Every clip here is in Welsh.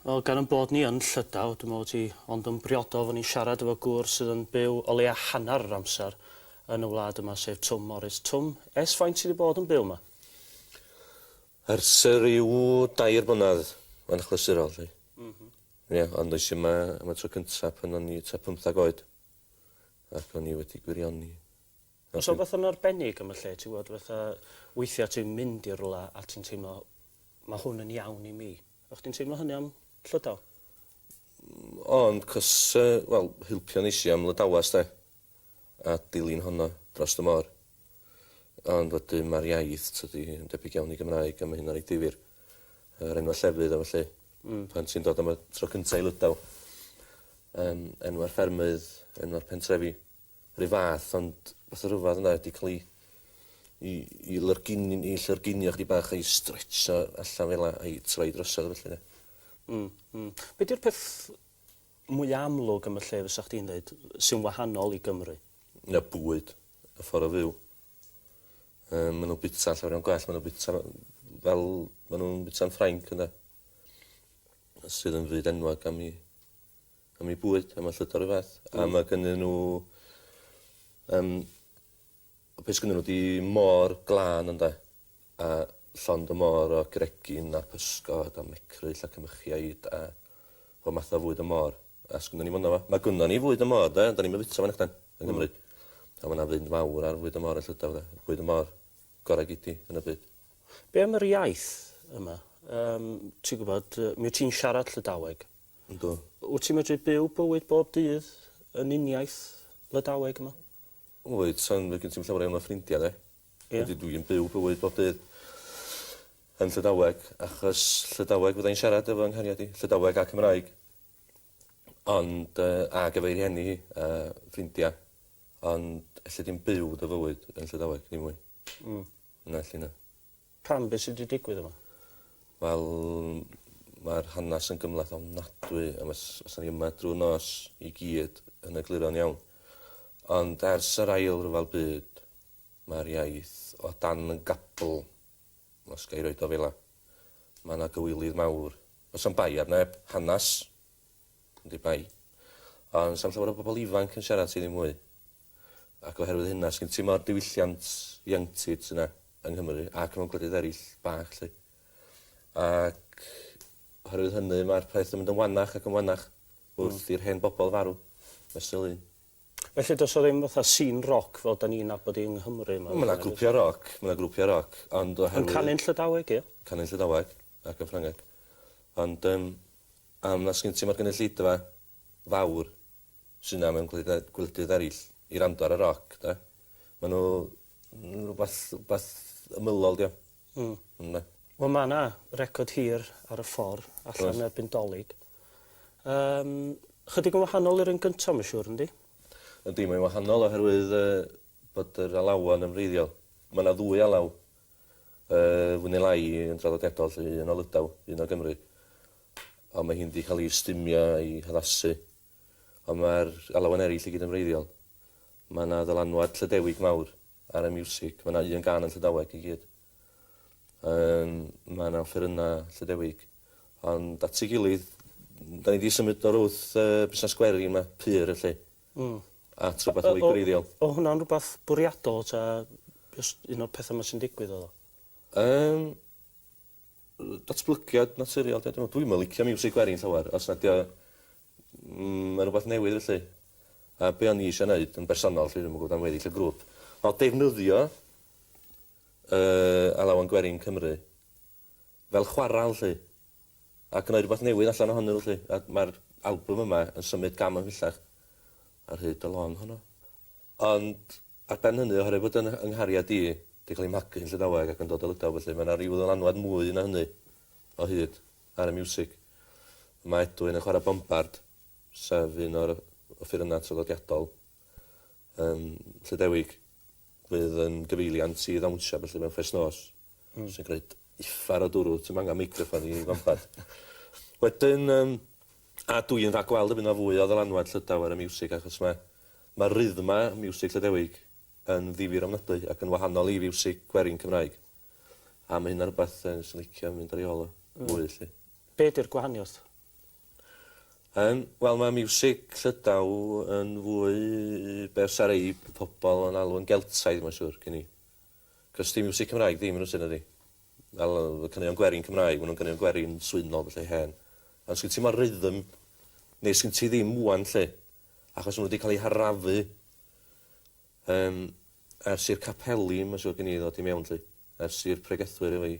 Wel, gan ein bod ni yn Llydaw, dwi'n meddwl bod hi ond yn briodol fod ni'n siarad efo gŵr sydd yn byw o leia hanner yr amser yn y wlad yma, sef Twm Morys. Twm, ers faint ti 'di bod yn byw yma? Ers ryw dair mlynedd yn achlysurol 'lly. M-hm. Ie, ond es i yma am y tro cynta pan o'n i tua pymthag oed ac o'n i wedi gwirioni. O's 'na wbath yn arbennig am y lle ti wbod fatha weithia ti'n mynd i rwla a ti'n teimlo ma' hwn yn iawn i mi. O' chdi'n teimlo hynny am Llydaw? Mm o'n 'c'os yy wel hilpio neis i am Lydawas 'de? A dilyn honno drost y môr. Ond wedyn ma'r iaith tydi yn debyg iawn i Gymraeg a ma' hynna'n reit ddifyr. Yr enwa' llefydd a felly. Hmm. Pan ti'n dod am y tro cynta i Lydaw. Yym enwa'r ffermydd, enwa'r pentrefi. 'r un fath ond fatha rhyfadd yna 'di ca'l 'i 'i 'i lyrgini- 'i llyringinio chydig bach a'i stretsio allan fel 'a a'i troi drosodd a felly 'de. Hmm hmm. Be' 'di'r peth mwya amlwg am y lle fysach chdi'n ddeud sy'n wahanol i Gymru? Y bwyd. Y ffor o fyw. Yym ma' n'w bita llawar iawn gwell ma' n'w bita yy fel ma' nw'n bita'n Ffrainc ynde? Sydd yn fyd enwog am 'i am eu bwyd am y llwyth o ryfedd a ma' gynnyn n'w yym y pys gynnyn n'w 'di mor glân ynde a llond y môr o gregyn a physgod a mecryll a cymychiaid a pob math o fwyd y môr a sgynnon ni fynno fo. Ma' gynnon ni fwyd y môr 'de ond 'dan ni'm yn fita fo nachdan? Yng Nghymru. A ma' 'na fynd fawr ar fwyd y môr yn Llydaw 'de. Bwyd y môr gora gei di yn y byd. Be am yr iaith yma? Yym ti gwbod yy mi wt ti'n siarad Llydaweg. Yndw. Wyt ti'n medru byw bywyd bob dydd yn uniaith Lydaweg yma? Wyt, ond fydd gen ti'm llawer iawn o ffrindia de. Ie. Felly dw i'n byw bywyd bob dydd yn Llydaweg achos Llydaweg fydda i'n siarad efo 'y nghariad i, Llydaweg a Cymraeg. Ond yy ag efo'i rhieni hi a ffrindia ond elli di'm byw dy fywyd yn Llydaweg ddim mwy. Hmm. Na elli na. Pam be' sy 'di digwydd efo? Wel ma'r hanas yn gymhleth ofnadwy a fys- fysan ni yma drw'r nos i gyd yn egluro'n iawn. Ond ers yr ail ryfel byd ma'r iaith o dan yn gapl os ga i roid o fela. Ma' 'na gywilydd mawr. O's am bai ar neb. Hanas. Yndi bai. Ond sa'm llawer o bobol ifanc yn siarad ti ddim mwy. ac oherwydd hynna, sgen ti mo'r diwylliant ieuenctid yna yng Nghymru ac mewn gwledydd eraill bach 'lly. Ac oherwydd hynny mae'r peth yn mynd yn wanach ac yn wanach hmm. wrth mm. i'r hen bobl farw, mesul un. Felly does o ddim fatha scene roc fel da ni'n nabod i yng Nghymru? Mae yna grwpiau roc, mae yna grwpiau roc, ond oherwydd... Yn canu'n Llydaweg, ie? Canu'n Llydaweg ac yn Ffrangeg. Ond um, am na sgyn ti mae'r gynulleidfa fawr sy 'na mewn gwleidydda- gwledydd eryll i wrando ar y roc 'de. Ma' n'w n- rwbath wbath ymylol 'di o. Hmm. Ynde? Wel ma' 'na record hir ar y ffor allan... Oes. ...erbyn Dolig. Yym chydig yn wahanol i'r un gynta ma' siŵr yndi? Yndi mae'n wahanol oherwydd yy bod yr alawon yn wreiddiol. Ma' 'na ddwy alaw yy fwy ne' lai yn draddodiadol 'lly un o Lydaw un o Gymru. Ond mae hi wedi cael ei ystumio a'i haddasu. Ond mae'r alawen eraill i gyd yn wreiddiol. Mae yna ddylanwad Llydewig mawr ar y miwsig. Mae yna un gân yn Llydaweg i gyd. Yym, mae yna offerynnau Llydewig. Ond at ei gilydd, da ni wedi symud o'r wrth uh, busnes gweri yma, pur y lle, mm. at rhywbeth mwy gwreiddiol. O hwnna'n rhywbeth bwriadol ta just un o'r pethau yma sy'n digwydd oedd o? Um, Yy datblygiad naturiol 'di o dwi me'wl. Dwi'm yn licio miwsig gwerin llawer os nad 'di o mm ma' rwbath newydd felly. A be' o'n i isio neud yn bersonol 'lly dwi'm yn gwbod am weddill y grŵp o'dd defnyddio yy Alawan Gwerin Cymru fel chwaral 'lly a gneud rwbath newydd allan ohonyn n'w 'lly a ma'r albwm yma yn symud gam ymhellach ar hyd y lôn honno. Ond ar ben hynny, oherwydd bod 'y nghariad i 'di cael ei magu yn Llydaweg ac yn dod o Lydaw felly, mae 'na ryw ddylanwad mwy na hynny o hyd ar y miwsig. Mae Edwyn yn chwarae bombard, sef un o'r offerynnau traddodiadol yym Llydewig, fydd yn gyfeiliant i ddawnsio felly mewn ffes nos, sy'n gwneud uffar o dwrw, ti'm angen meicroffon i fombard. Wedyn yym a dwi yn rhagweld y bydd 'na fwy o ddylanwad Llydaw ar y miwsig achos mae Mae rythma miwsig Llydewig yn ddifyr ofnadwy ac yn wahanol i fiwsig gwerin Cymraeg. A mae hynna'n rhywbeth fyswn i'n licio mynd ar ei ôl o fwy 'lly. Be 'di'r gwahaniaeth? Yym, wel mae miwsig Llydaw yn fwy be' fysa rei pobol yn alw yn Geltaidd mae'n siŵr, gen i. 'C'os 'di miwsig Cymraeg ddim yn y tŷ nadi? Fel yy y caneuon gwerin Cymraeg, ma' nw'n ganeuon gwerin swynol felly hen. Ond sgin ti 'im y rythm, neu sgin ti ddim ŵan 'lly. Achos ma' nw 'di ca'l eu harafu yym ers i'r capeli ma' siŵr gen i ddod i mewn 'lly, ers i'r pregethwyr efo'i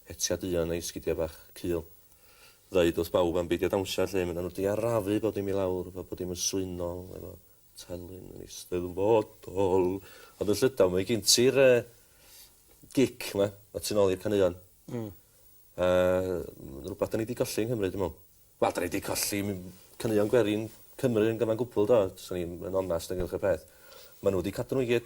hetia duon a'i sgidia bach cul ddeud wrth bawb am beidio dawnsio 'lly, ma' nw 'di arafu bob dim i lawr fel bod dim yn swynol efo telyn yn eisteddfodol. Ond yn llydaw mae gin ti'r yy gic 'ma, y tu nôl i'r caneuon. Hmm. A rwbath 'dan ni 'di golli yng Nghymru dwi me'wl. Wel 'dan ni 'di colli m- caneuon gwerin Cymru yn gyfan gwbwl do? Swn i'm yn onast ynghylch y peth. Ma' n'w 'di cadw n'w i gyd.